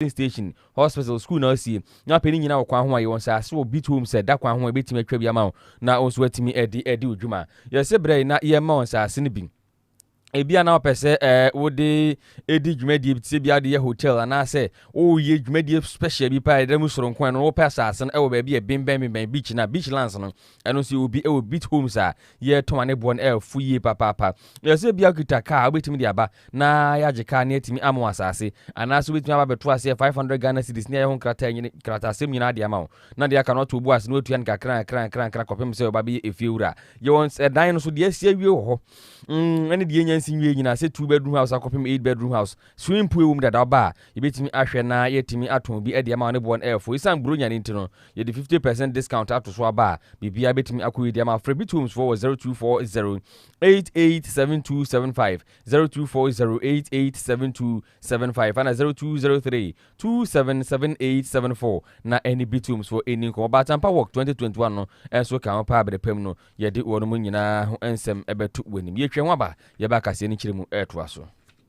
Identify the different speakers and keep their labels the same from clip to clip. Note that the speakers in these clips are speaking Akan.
Speaker 1: Filling station, hospital, school na ɔsi na ɔpɛ ne nyina wɔ kwan ho a yɛwɔ nsaase wɔ Beat Home sɛ da kwan ho a yɛbɛtumi atwa bi ama wo na wo nso watumi ɛde ɛde wo dwuma. Yɛse brɛ yɛ na yɛmma wo nsaase no bi. Ebia na wopɛ sɛ ɛɛ wode ɛdi dwumadie bi te sɛ bia wode yɛ hotel anaasɛ wo yɛ dwumadie special bi paa ɛda mu soronko a ɛno no wopɛ asaase no ɛwɔ baabi a ɛbenbɛn benbɛn beach no a, beach lands no Ɛno nso yɛ obi wɔ Beach Homes a yɛtɔn a ne boɔ no ɛfo yie papaapa. Ɛyɛ sɛ bia okita kaa a wobɛtumi de aba na yɛagye kaa ne atumi ama wo asaase anaasɛ wobɛtumi aba abɛto aseɛ 500 Ghana cedis ne ayɛ ho nkrataa nyini nkrataasɛm nyinaa de ama wo na deɛ aka no wato wo bo ase na watua no nkakra nkakra nkakra nkakra kɔpem sɛ ɔba bɛyɛ efie wura. Yɛwɔ ɛdan no so deɛ asi awie wɔ hɔ mm, ɛne deɛ anya nsi nwie nyinaa sɛ two bedroom house akɔpem eight bedroom house. Swimming pool wɔ mu dada ɔba a yɛbɛtumi ahwɛ na yɛatumi atɔn bi de ama wo ne boɔ no ɛfo. Ɛsiane Buronya no nti no Yɛde fifty percent discount ato so aba a, biribiara betumi akɔ yie deɛ ma frɛ Bit Homes foɔ wɔ zero two four zero eight eight seven two seven five zero two four zero eight eight seven two seven five ɛna zero two zero three two seven seven eight seven four na ɛne Bit Homes foɔ ɛni nkɔmɔ ba Atampa Walk twenty twenty one no ɛnso ka ho paa berɛ pam no yɛde wɔn nyinaa ho nsɛm ɛbɛto w'anim yɛtwa ho aba yɛba akaseɛ no kyerɛ mu ɛtoa so.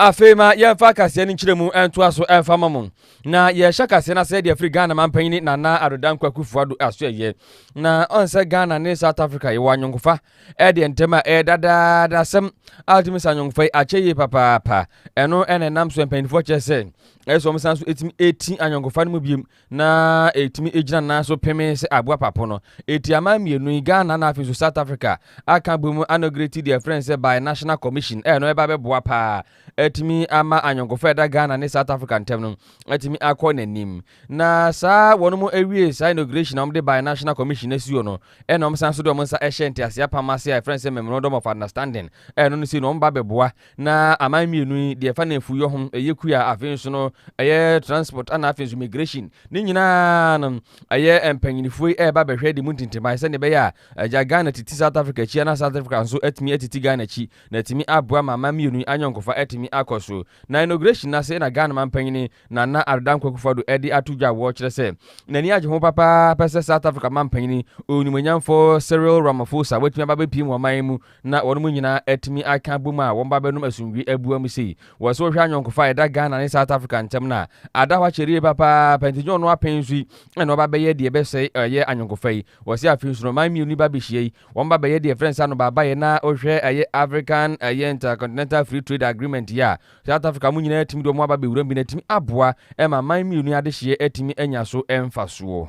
Speaker 1: afei ma yɛmfa kaseɛ no nkyerɛ mu ntoa so ɛmfa ma mo na yɛhyɛ kaseɛ no asɛ deɛ firi ghana mampanyini nana adodan kwakufoɔ ado aso ɛyɛ na ɔnsɛ ghana ne south africa yɛwɔ anyɔnkofa ɛdeɛ ntɛm a ɛyɛ dadaada asɛm a wotumi sa anyɔnkofa yi akyɛ yie papaapa ɛno ɛna ɛnam so mpanyinifoɔ kyerɛ sɛ ɛsɛ wɔn san so ɛtumi ɛti anyɔnkofa no mu biem na ɛtumi gyina nan so pemee sɛ aboa papo no. Eti aman mmienu yi, Ghana na afei nso South Africa, aka abom anɔgereti deɛ ɛfrɛ no sɛ Bi-National Commission a ɛno ɛba bɛboa pa ara atumi ama anyɔnkofa a ɛda Ghana ne South Africa ntam no atumi akɔ n'anim. Na saa wɔn mo awie saa inauguration a wɔde Bi-National Commission asuo no, ɛna wɔsan so de wɔn nsa ɛhyɛ nteaseɛ apam ase a ɛfrɛ no sɛ Memorandum of Understanding a ɛno no sei no wɔn ba bɛboa Na aman mmienu yi, deɛ ɛfa nnamfuiiɔ ho, ɛyɛ kua, afei nso no, ɛyɛ transport, ana afei nso migration. Ne nyinaa no, ɛyɛ mpanyinifoɔ yi ɛreba bɛhwɛ de mu ntintimae sɛdeɛ ɛbɛyɛ a agya Ghana titi South Africa akyi ana South Africa nso atumi atiti Ghana akyi na atumi aboa ma aman mmienu yi anyɔnkofa atumi akɔ so. Na inauguration no ase na Ghana manpanyin Nana Addo Dankwa Akufo-Addo ɛde ato dwa a wɔkyerɛ sɛ n'ani agye ho papaapa sɛ South Africa manpanyin Onwummanyamfoɔ Cyril Ramaphosa watumi aba abɛpie mu ɔman mu na wɔnom nyinaa atumi aka abom a wɔn ba bɛnom asomdwie abua mu sei. Wɔ sɛ wohwɛ anyɔnkofa a ɛda Ghana ne South Africa ntam no a, ada hɔ akyɛre yie papaapa nti nyɛ ɔno apɛn nso yi na wɔba bɛyɛ deɛ ɛbɛsɛe ɛyɛ anyɔnkofa yi. Wɔ sɛ afei nso no man mmienu yi ba bɛhyia yi, wɔn ba bɛyɛ deɛ ɛfrɛ no sɛ anobaabaeɛ na wohwɛ ɛyɛ African ɛyɛ Intercontinental Free Trade Agreement yi a South Africa wɔn nyinaa atumi de wɔn aba bɛwura mu bi no atumi aboa ma man mmienu yi adehyeɛ atumi anya so mfasoɔ.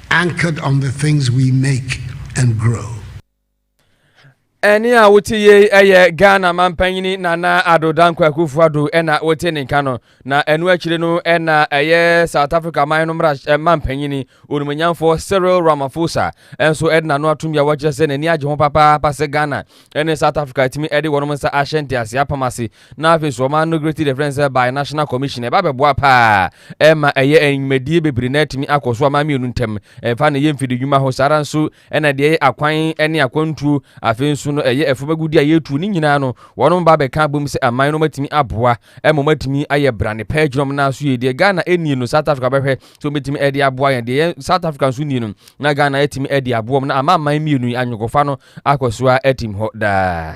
Speaker 2: Anchored on the things we make and grow. Ɛne
Speaker 1: a wote yei ɛyɛ Ghana mampanyini Nana Addo Dankwa Akufo-Addo ɛna wote ne nka no, na ɛno akyire no ɛna ɛyɛ South Africa man no mmara eh, mampanyini onimonyamfoɔ Cyril Ramaphosa ɛnso ɛde n'ano atom yɛ wɔkyerɛ sɛ n'ani agye ho papaapa sɛ Ghana ɛne South Africa atumi ɛde wɔn nsa ahyɛ nteaseɛ apam ase Na afei nso wɔama no Great Defence sɛ Bi-National Commission. Ɛba bɛboa pa ara. Ɛma ɛyɛ a nnwumadie bebree na atumi akɔ so aman mmienu ntam. Ɛmfa no yɛ mfidi nnwuma ho. Saa ara nso na deɛ ɛyɛ akwan ne akwantuo, afei nso no ɛyɛ afuom agudeɛ a yɛretuo, ne nyinaa no wɔnom ba bɛka abom sɛ aman na wɔatumi aboa ma wɔatumi ayɛ brane pa agyina wɔn nan so yie. Deɛ Ghana nni no, South Africa bɛhwɛ sɛ wɔbɛtumi ɛde aboa yɛn. Deɛ yɛn South Africa nso nni no, na Ghana atumi ɛde aboa wɔn na ama aman mmienu yi anyɔnkofa no akɔ so ara atim hɔ daa.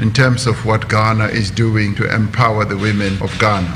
Speaker 3: in terms of what Ghana is doing to empower the women of Ghana.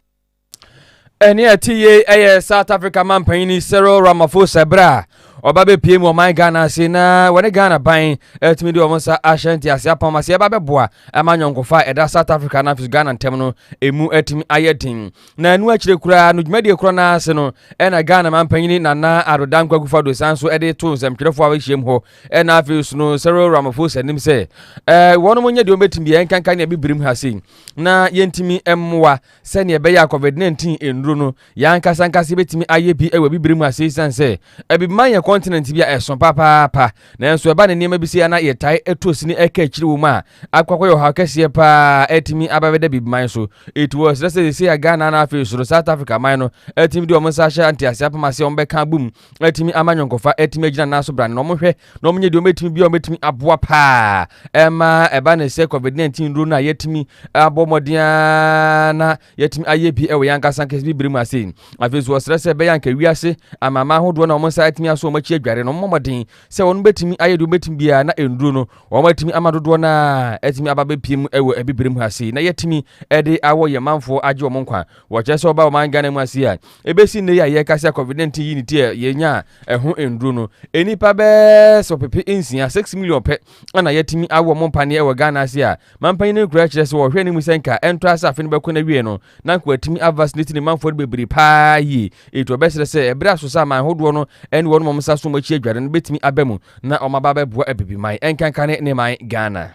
Speaker 1: ɛne ɛte yei ɛyɛ south africa mampanyini cyril ramaphosa berɛ a ɔba bɛpie mu ɔman ghana ase na wɔne ghana ban atumi de wɔn nsa ahyɛ nteaseɛ apam ase ɛba bɛboa ama nyɔnkofa a ɛda south africa na afei ghana ntam no ɛmu atumi ayɛ den na ɛno akyire koraa no dwumadie korɔ no ase no ɛna ghana mampanyini nana adodankwa kufa do san so ɛde to nsɛmtwerɛfoɔ a wɔahyiam hɔ Ɛna afei nso no Cyril Ramaphosa nim sɛ ɛɛ wɔn nyɛ deɛ wɔbɛtumi biara nkanka nea bibirim ha sei na yɛntumi mmoa sɛdeɛ ɛbɛyɛ a COVID-19 nnuro no yɛn ankasa ankasa yɛbɛtumi ayɛ bi wɔ bibirim ha sei san sɛ ɛbibima yɛ kɔntinɛnti bi a ɛso papaapa nanso ɛba ne nneɛma bi sei ana yɛtae ɛtu osini ɛka akyiri wɔ mu a akɔkɔyɛ ɔhaw kɛseɛ paa ɛtumi abɛbɛda bibiman so it was sɛ sɛ sɛ Ghana na afei soro South Africa man no ɛtumi de wɔn nsa ahyɛ nteaseɛ apam ase wɔn bɛka abom atumi ama nyɔnkofa atumi agyina nan so brane na wɔhwɛ na wɔnyɛ deɛ wɔbɛtumi bi a wɔbɛtumi aboa paa ɛma ɛba ne sɛ covid 19 nnuro no a yɛatumi abɔ mmɔden a na yɛatumi ayɛ bi wɔ yɛn ankasa nkɛse bibire mu ase afei nso wɔsrɛ sɛ ɛbɛyɛ anka wiase amama ahodoɔ na wɔn nsa atumi aso wɔn akyi adware no wɔmmɔ mmɔden sɛ wɔn bɛtumi ayɛ deɛ wɔbɛtumi biara na nnuro no wɔn atumi ama dodoɔ no a atumi aba bɛpie mu wɔ abibire mu ase na yɛatumi de awɔ yɛn manfoɔ agye wɔn nkwa Wɔkyerɛ sɛ ɔba ɔman Ghana mu ase a, ebesi nnɛ yi a yɛrekasa a COVID-19 yi ne ti a yɛanya a ɛho nnuru no, nnipa bɛyɛ sɛ ɔpepe nsia, six million, pɛ na yɛatumi awo wɔn paneɛ wɔ Ghana ase a mampanyin no nkura kyerɛ sɛ wɔhwɛ anim sɛ nka ɛntɔ ase afe no bɛkɔ n'awiei no na nka wɔatumi avaccinate ne manfoɔ no bebree paa yie. Enti wɔbɛsrɛ sɛ ɛbere aso sɛ aman hodoɔ no ne wɔn wɔn nsa som akyi adware no bɛtumi aba mu na wɔn aba abɛboa abibiman nkankane ne man Ghana.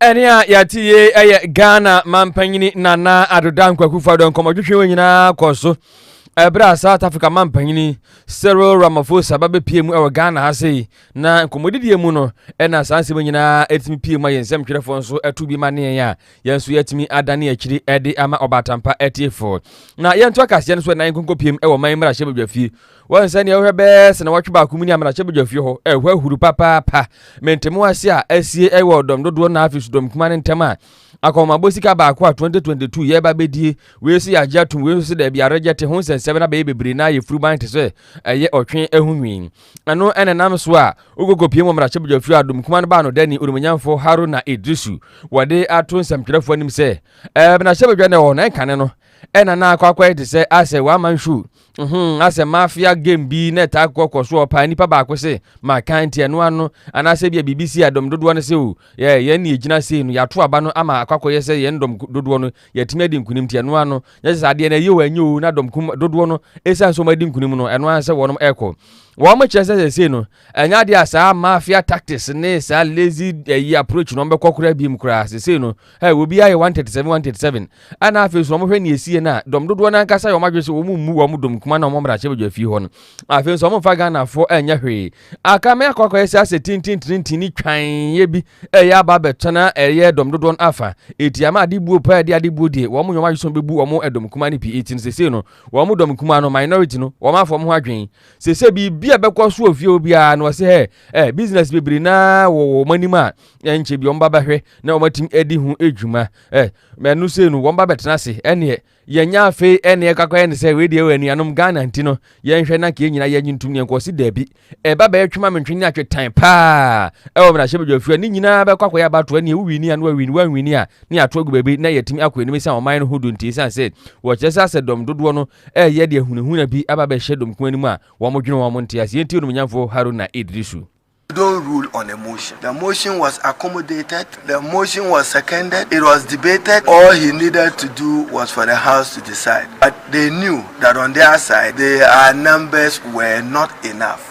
Speaker 2: ɛne
Speaker 1: a yɛate yie ɛyɛ ghana mampanyini nana adoda nkwakufo adɔ nkɔmmɔtwetwe wɔ nyinaa kɔ so ɛberɛ a south africa mampanyini cyril ramaphosa ba bɛpie mu ɛwɔ ghana ha sei na nkɔmmɔdidiɛ mu no ɛna saa nsɛm nyinaa ɛtumi pie mu a yɛn nsɛm twerɛfoɔ nso ɛto bi ma neɛ a yɛn nso yɛatumi adane akyiri ɛde ama ɔbaatampa atiefoɔ na yɛnto akaseɛ no so ɛnan nkɔnkɔpiem ɛwɔ man mmarahyɛ badwafie Wɔn sɛnea wohwɛ bɛyɛ sɛ wɔtwe baako mu ni amena hyɛbadwa fie hɔ ɛhɔ ahuru papaapa mente mu ase a asie ɛwɔ ɔdɔm dodoɔ na afei sodɔm kuma no ntɛm a akɔmabɔ sika baako a 2022 yɛ ba bɛdie wei so yɛ agye atom wei nso so daabi arɛgyɛ te ho nsɛnsɛm na bɛyɛ bebree na ayɛ furuban te sɛ ɛyɛ ɔtwe ɛho nwi ɛno ɛna nam so a wokoko pie mu amena hyɛbadwa fie a dɔm kuma no baa no dani onimonyamfoɔ haro na edrisu wɔde ato nsɛmtwerɛfoɔ anim sɛ ɛmena hyɛbadwa na ɛwɔ na ɛnkane no ɛna na akɔ akɔyɛ te sɛ asɛ wɔama nsuo Uhmm asɛ mafia game bi na ɛtaa kɔ kɔ soɔ paa nipa baako se makan nti ɛno ano anaasɛ ebia biribi si a dɔm dodoɔ no se o yeah yɛn ne yɛgyina sei no yɛato aba no ama akɔ akɔyɛ sɛ yɛn dɔm dodoɔ no yɛatumi adi nkunim nti ɛno ano nyɛ sɛ sɛ adeɛ no ɛyɛ o ɛnyɛ o na dɔm kum dodoɔ no ɛsiane sɛ wɔn adi nkunim no ɛno ara sɛ wɔnom ɛkɔ wɔn kyerɛ sɛ sɛ sei no Ɛnyɛ adeɛ a saa mafia tactics ne saa lazy ɛyi eh, approach na wɔbɛkɔ koraa biem koraa sesei no hey, eh, obiara yɛ 137 137 ɛna afei so wɔhwɛ ne ɛsie no a dɔm dodoɔ no ankasa yɛ wɔn adwene sɛ wɔn mmu wɔn dɔm kuma na wɔn mmarahyɛ badwa fie hɔ no afei nso wɔn mfa Ghanafoɔ ɛnyɛ eh, hwee aka mɛ akɔ akɔyɛ sɛ asɛ tintintintin ne twanyeɛ bi ɛyɛ aba abɛtena ɛyɛ dɔm dodoɔ no afa ɛti ama ade buo paa ɛde ade buo deɛ wɔn yɛ wɔn adwene sɛ wɔbɛbu wɔn dɔm kuma no pii ɛti no sesei no wɔn dɔm kuma no minority no wɔn afɔ wɔn ho adwene Sɛ sɛ biribi a bɛkɔ so wɔ fie hɔ biara na ɔsɛ ɛ ɛ business bebree na wɔ wɔn anim a ɛnkyɛ bi wɔn ba bɛhwɛ na wɔn atim adi ho adwuma ɛ mɛno sei no wɔn ba bɛtena ase ɛneɛ yɛnyɛ afei ɛneɛ kakɔ ɛne sɛ wei deɛ wɔ anuanom Ghana nti no yɛnhwɛ na kee nyina yɛnyi ntum yɛn kɔsi daabi ɛba bɛyɛ twema mentwe ne atwe tan paa ɛwɔ mena hyɛ badwa fie ne nyinaa bɛkɔ akɔyɛ abato ɛneɛ wowini ano awini wanwini a ne ato agu baabi na yɛtumi akɔ anim sɛ ɔman no ho do nti sɛ sɛ wɔkyerɛ sɛ asɛ dɔm dodoɔ no ɛreyɛ deɛ hunahuna bi aba abɛhyɛ dɔm kumaa no mu a wɔdwene wɔn nteaseɛ nti Onimuonyamfoɔ Haruna Iddrisu. Don't rule
Speaker 4: on a motion. The motion was accommodated, the motion was seconded, it was debated, all he needed to do was for the House to decide but they knew that on their side their numbers were not enough.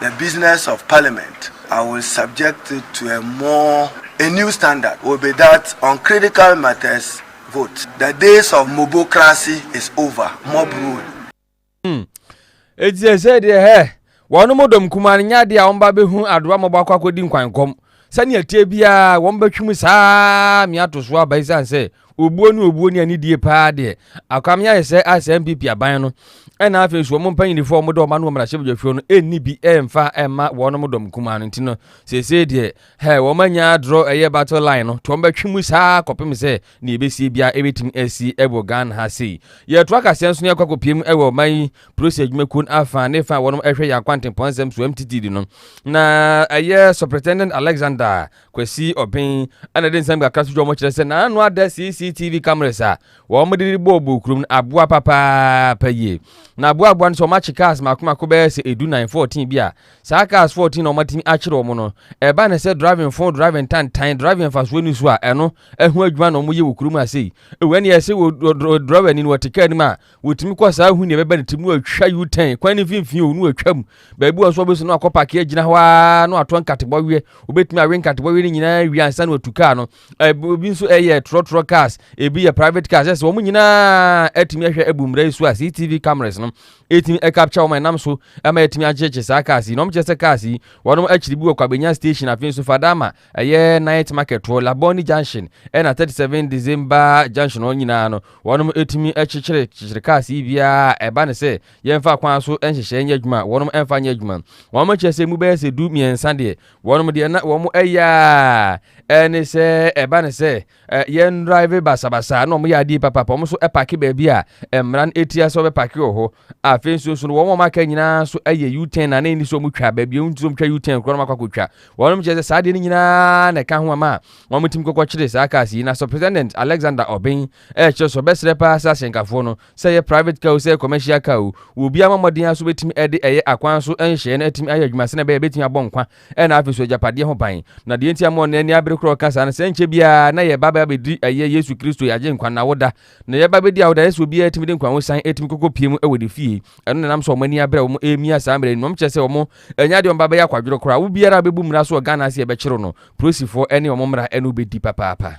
Speaker 4: The business of parliament I will subject it to a more a new standard will be that on critical matters vote the days of mobocracy is over mob rule. Hmm. Eti
Speaker 1: ɛsɛ deɛ hɛ wɔn mo dɔm kumaa no nyɛ adeɛ a wɔn ba bɛhu adoa mmɔbɔ akɔ akɔdi nkwankɔm sɛnea ɛteɛ biara wɔn bɛtwem saa mmeato so aba esiane sɛ Obuo ne obuo ne anidie paa deɛ akwame ayɛ sɛ a sɛ NPP aban no ɛna afei so wɔn mpanyinifo a wɔn de wɔn ano wɔ mmarahyɛbadwafio no ɛnni bi ɛmfa ɛma wɔn dɔm nkumaa no nti no seesei deɛ hɛ wɔn anya adorɔ ɛyɛ battle line no to wɔn bɛtwe mu saa kɔpem sɛ ne ɛbɛsie biara ɛbɛtumi asi ɛwɔ Ghana ha sei yɛto akaseɛ nso ne ɛkɔ akɔpie mu ɛwɔ ɔman yi polisi adwumakuo no afa ne fa wɔn ɛhwɛ yɛ akwantempɔn nsɛm so MTTD no na ɛyɛ Superintendent Alexander Kwasi Ɔben a na ɛde nsɛm kakra so dwom no kyerɛ sɛ n'ano ada CCTV cameras a wɔde de bɔɔ bɔɔ kurom no aboa papaapa yie. Na aboaboa no sɛ wɔakye cars mmaako mmaako bɛyɛ sɛ edu nnan, fourteen bi a. Saa cars fourteen a wɔatumi akyere wɔn no, ɛba ne sɛ driving fo, driving tantan, driving mfasoɔ nni so a ɛno ho adwuma na wɔyɛ wɔ kurom ha sei. Ɛwɔ ɛne ɛsɛ wɔ drɔwani no wɔte kaa anim a Wɔtumi kɔ saa hu nea ɛbɛba ne tirim na wɔatwa U-turn kwan no mfimfini o na wɔatwa mu. Baabi wɔ nso wɔbɛsi no akɔ paake agyina hɔ ara na wɔatɔ nkatebɔweɛ. Wɔbɛtumi awe nkatebɔweɛ no nyinaa wie ansa na wɔatu kaa no. Ebi nso ɛyɛ trɔtrɔ cars, ebi yɛ private cars. Ɛsɛ wɔn nyinaa atumi ahwɛ abu mmara yi so a CCTV cameras no ɛtumi ɛkapkya wɔn ɛnam so ama atumi akyekye saa cars yi. Na wɔkyerɛ sɛ cars yi wɔn akyiri bi wɔ Kwabenya station afei nso Fadama Ɛyɛ night market wɔ Labone junction ɛna thirty seven December junction hɔ nyinaa no, wɔnom ɛtumi ɛkyekyere kyekyere cars yi biara a ɛba ne sɛ yɛnfa kwan so nhyehyɛ nyɛ adwuma a wɔnom ɛnfa nyɛ adwuma. Wɔnom akyɛ sɛ mu bɛyɛ sɛ du mmiɛnsa deɛ wɔnom deɛ na wɔn ɛyɛ a ɛne sɛ ɛba ne sɛ Eh, yɛn drive basabasa na wɔn yɛ adeɛ papa pa wɔn nso pake baabi a eh, mmara no etia sɛ wɔbɛpake wɔ hɔ afei nso nso no wɔn a wɔn aka nyinaa nso yɛ u-turn na ne ni so wɔn twa baabi a wɔn ti so wɔn twa u-turn korɔ na wɔn akɔ akɔtwa wɔn kyerɛ sɛ saa adeɛ no nyinaa na ɛka ho ama wɔn tim kɔkɔ kyerɛ saa cars yi na so president alexander ɔben ɛkyerɛ so bɛsrɛ paa sɛ ahyɛnkafoɔ no sɛ yɛ private car o sɛ yɛ commercial car o wɔ obiara mmɔden aso bɛtumi ɛde ɛyɛ akwan so nhyɛɛ no atumi ayɛ adwuma sɛ na ɛbɛyɛ bɛtumi abɔ nkwa Ɛna afei nso agyapadeɛ ho ban. Na deɛ nti a mo nnɛ ani abere korɔ reka saa no, sɛ nkyɛ biara na yɛba bɛ abɛdi ɛyɛ Yesu Kristo yɛ Agyenkwa no awoda. Na yɛba bɛdi awoda a, ɛsɛ sɛ obiara tumi de nkwahosan tumi kɔkɔ pie mu wɔ ne fie. Ɛno na ɛnam sɛ wɔn ani abere a wɔn remia saa mmara yi no, wɔn kyerɛ sɛ wɔn ɛnyɛ adeɛ a wɔn ba bɛyɛ akwadworɔ koraa. Obiara a ɔbɛbu mmara so wɔ Ghana ase a ɛbɛkyere no, polisifoɔ ne wɔn mmara ne wobɛdi papaapa.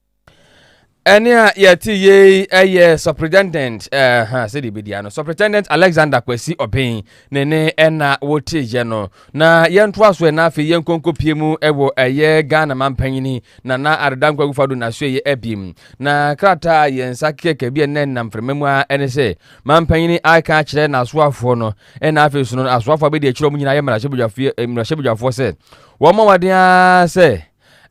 Speaker 5: ɛne
Speaker 1: a yɛte yei ɛyɛ superintendent ɛha sɛ deɛ bɛdi ano superintendent alexander kwasi ɔben ne ne ɛna wɔteeɛ no na yɛntoa so ɛna afei yɛnkɔnkɔ pie mu ɛwɔ ɛyɛ ghana mampanyini na na adeda nkwa gufa do nasoɛyɛ abim na krataa yɛn nsa kɛkɛ bi ɛnɛ nam frɛma mu a ɛne sɛ mampanyini aka akyerɛ n'asoafoɔ no ɛna afei so no asoafoɔ abɛdi akyirɛ mu nyinaa yɛ mmarahyɛbadwafoɔ sɛ wɔn mɔwaden ara sɛ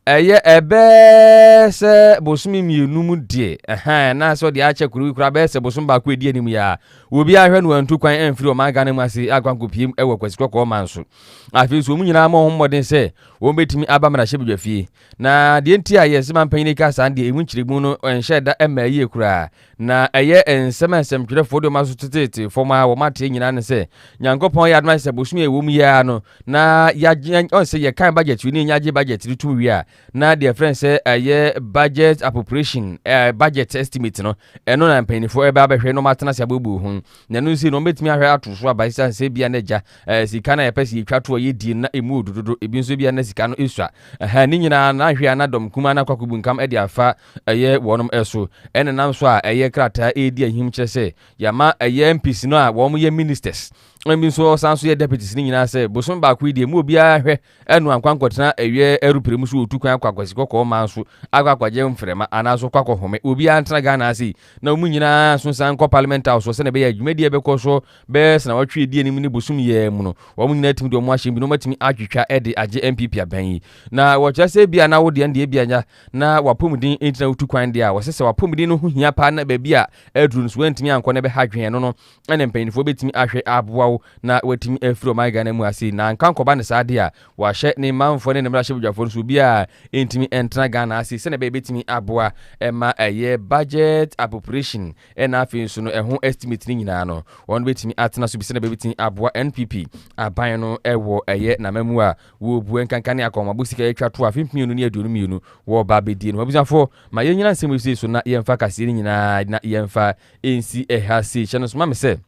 Speaker 1: Ɛyɛ ɛbɛɛɛ sɛ bosome mmienu mu deɛ, ɛhɛɛ, anaasɛ ɔde akyɛ koro yi koraa bɛyɛ sɛ bosome baako a ɛdi anim yi ara. Obiara anhwɛ na wantu kwan amfiri ɔman Ghana mu ase ankɔ ankɔpiem wɔ Kwasi Kɔkɔɔ man so. Afei nso, wɔn nyinaa mmɔɔ ho mmɔden sɛ wɔbɛtumi aba mmarahyɛbadwafie. Na deɛ nti a yɛse manpanyin yi ka saa no deɛ, emu nkyerɛmu no nhyɛɛ da mmaa yie koraa. Na ɛyɛ nsɛm a nsɛmtwerɛfoɔ de wɔaso teteete fam a wɔateɛ nyinaa ne sɛ, Nyankopɔn yɛ adom ayɛ sɛ bosome a ɛwɔ mu yi ara no, na yɛagye, ɔn sɛ yɛkan budget no, yɛagye budget no tom wie a, na deɛ ɛfrɛ no sɛ ɛyɛ budget appropriation, ɛɛ budget estimate no, ɛno na mpanyinfoɔ ɛbɛ abɛhwɛ na wɔn atena ase aboaboa ho. Na ɛno nso no, wɔn bɛtumi ahwɛ ato so aba esiane sɛ ebia na agya, ɛɛ sika no a yɛpɛ sɛ yɛtwa to a yɛdie no na ɛmu ɔdu dodo, ebi nso ebia na sika no esua. Ɛhɛn, ne nyinaa no anhwɛ a na dɔm kumaa no akɔ akɔbunkam de afa Ɛyɛ wɔnom so. Ɛna nam so a ɛyɛ krataa redi ahim kyerɛ sɛ yɛama ɛyɛ MPs no a wɔn yɛ ministers na bi nso ɔsan so yɛ deputies no nyinaa sɛ bosome baako yi deɛ mu obiara hwɛ ɛno ankwa nkɔtena ɛyɛ aeroplane mu so otu kwan akɔ akwasi kɔkɔɔ man so akɔ akɔgye mfrɛma anaa so kɔ akɔ home obiara ntena Ghana ase yi na wɔn nyinaa nso nsan nkɔ parliament house sɛ na ɛbɛyɛ adwumadie ɛbɛkɔ so bɛyɛ sena wɔtwe edi anim ne bosom yɛɛ mu no wɔn nyinaa tumi de wɔn ahyɛm bi na wɔatumi atwitwa ɛde agye MPP aban yi na wɔkyerɛ sɛ ebia na wo deɛ deɛ ebia nya na w'apɔmuden ntina wotu kwan deɛ a, wɔsɛ sɛ w'apɔmuden no ho hia paa na baabi a aduru no so wantumi ankɔ na ɛbɛha dwen ɛno no, ɛna mpanimfoɔ bɛtumi ahwɛ aboa wo na watumi afiri ɔman Ghana mu ase. Na anka nkɔba no saa deɛ a, wɔahyɛ ne manfoɔ ne ne mmarahyɛbadwafoɔ no so obiara ntumi ntena Ghana ase sɛdeɛ ɛbɛyɛ bɛtumi aboa ma ɛyɛ budget appropriation ɛna afei nso no ɛho estimate no nyinaa no wɔn bɛtumi atena so bi sɛdeɛ bɛbɛtumi aboa NPP aban no ɛwɔ ɛyɛ n'amamu a Wɔ bua nkanka ne akɔnmabo sika yɛtwa to afe mpem mmienu ne aduonu mmienu wɔ ba abɛdie no ho. Abusuafoɔ, ma yɛn nyina nsɛm yi sei so na yɛmfa kaseɛ no nyinaa na yɛmfa nsi ha sei. Hyɛ no nso ma me sɛ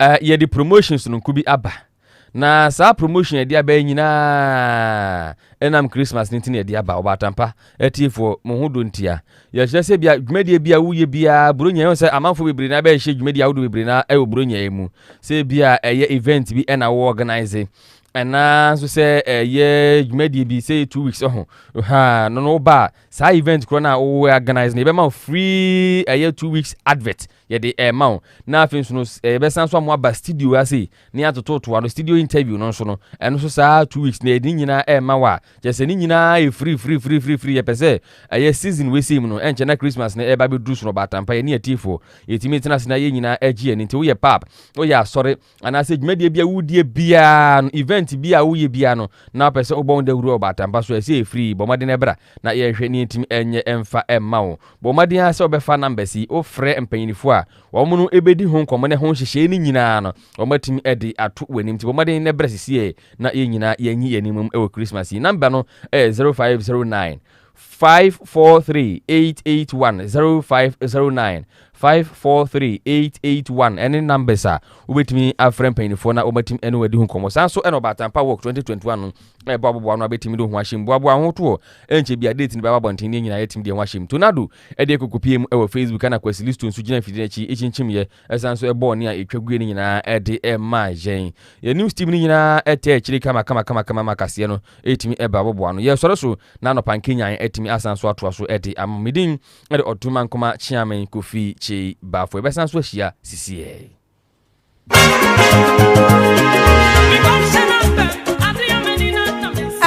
Speaker 1: eh, yɛde promotion sononko bi aba. Na saa promotion yɛde aba yi nyinaa ɛnam Christmas no nti na yɛde aba. Ɔbaatampa atiefoɔ, mo ho dɔ ntia. Yɛkyerɛ sɛ bia dwumadie bi a woyɛ biara Buronya yɛhu sɛ amanfoɔ bebree na bɛhyɛ dwumadie ahodoɔ bebree na ɛwɔ Buronya yi mu. Sɛ bia ɛyɛ event bi ɛna wo organize anaanso sɛ ɛyɛ dwumadie bi sɛ two weeks ɛho ha no no ba saa event korɔ no a wowɔ organize no yɛbɛma wo free ɛyɛ two weeks advert yɛde ɛma wo na afei nso no yɛbɛsan so amoa ba studio ase ne atototoa no studio interview no nso no ɛno nso saa two weeks na yɛde ne nyinaa ɛma wo a kyɛ sɛ ne nyinaa yɛ free free free free free yɛpɛ sɛ ɛyɛ season wesei mu no ɛnkyɛ na christmas no ɛba bɛduru so no ɔbaatampa yɛne atiefoɔ yɛtumi tena ase na yɛ nyinaa agye ani nti woyɛ pap woyɛ asɔre anaasɛ dwumadie bi a wodie biara no event bi a woyɛ biara no na wopɛ sɛ wobɔ wo dawuro ɔbaatampa so ɛsɛ ɛfiri bɔ mmɔden ɛbra na yɛhwɛ ne ɛtumi ɛnyɛ ɛmfa ɛmma wo bɔ mmɔden ara sɛ wobɛfa numbers yi wofrɛ mpanyinifoɔ a wɔn no ɛbɛdi ho nkɔmmɔ ne ho nhyehyɛe no nyinaa no wɔn atumi ɛde ato w'anim nti bɔ mmɔden na ɛbrɛ sisiɛ na yɛn nyinaa yɛnyi yɛn anim ɛwɔ Christmas yi number no ɛyɛ 0509 Five four three eight eight one zero five zero nine five four three eight eight one ɛne numbers a wobɛtumi afrɛ mpanyinfoɔ na wɔatumi ɛne wɔadi ho nkɔmmɔ saa nso ɛna ɔbaatampa work twenty twenty one no ɛbɔ aboboa no abɛtumi de ho ahyɛm boaboa ho toɔ ɛnkyɛ bi a date no bɛba abɔnten ne nyinaa yɛtumi de ho ahyɛm tonado ɛde akokopie mu ɛwɔ facebook ɛna kwasi listo nso gyina mfidie no akyi ɛkyinkyim yɛ Ɛsan nso bɔɔ nea etwa gui no nyinaa de maa yɛn. Yɛn new steam no nyinaa taa akyiri kamakamakama ma kaseɛ no tumi ba boboa ano. Yɛsɔre so na anɔpa nkenyan atumi asan nso atoa so de ama. Me din de Ɔto Mankoma Kyeame Kofi Kyei Bafo. Yɛbɛsan nso ahyia sisiɛ.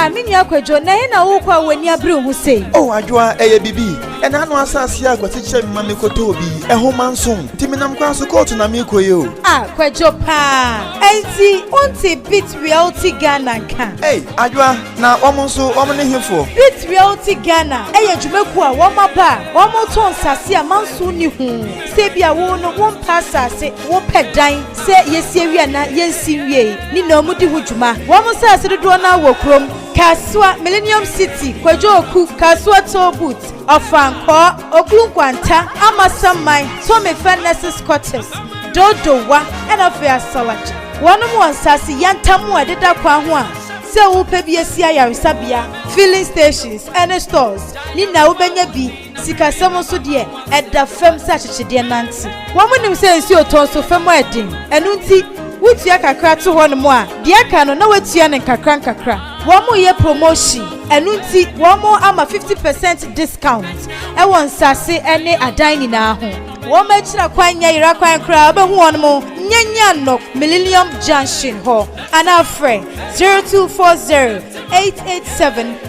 Speaker 6: Ah, me nua Kwadwo, na he na wokɔ a w'ani abere wo ho sei? Oh, Adwoa, ɛyɛ biribi.
Speaker 7: Ɛna ano asase a Kwasi kyerɛ me ma me kɔ tɔɔ bi, ɛho ma nso. Ti me nam kwan so kɔɔto na me kɔ yi o. A kwadwo paa,
Speaker 6: ɛnti wonte Beat Realty Ghana nka? Ei, Adwoa, na
Speaker 7: wɔn nso wɔn ne he foɔ? Beat Realty
Speaker 6: Ghana ɛyɛ dwumakuo a wɔn aba a wɔn tɔ nsase a manso nni ho. Sɛ ebia wo no wo mpɛ asase, wo pɛ dan, sɛ yɛsi awie anaa yɛnsi nwiei, ne nyinaa wɔn di ho dwuma. Wɔn nsase dodoɔ no ara wɔ kurom. Kasoa, Millennium City, Kwadwo Oku, Kasoa Toll Booth, Ɔfankɔɔ, Okuru Nkwanta, Amasamman, Tomefa Nurses Quarters, Dodowa, ɛna afei Asalagya. Wɔnom wɔ nsaase yantam a ɛdeda kwan ho a sɛ worepɛ bi asi ayaresabea, filling stations, ɛne stores ne nyinaa wobɛnya bi. Sikasɛm nso deɛ, ɛda fam sɛ akyekyedeɛ nante. Wɔnim sɛ nsuo tɔ nso fa mu a ɛden, ɛno nti wotua kakra to hɔnom a, deɛ aka no na wɔatua no nkakrankakra. Wɔreyɛ promotion, ɛno nti wɔama 50 percent discount wɔ nsase ne adan nyinaa ho. Wɔn akyira kwan nyɛ yera kwan koraa, wobɛhu wɔn wɔ Nyanyannok Millennium Junction hɔ anaa frɛ 0240 887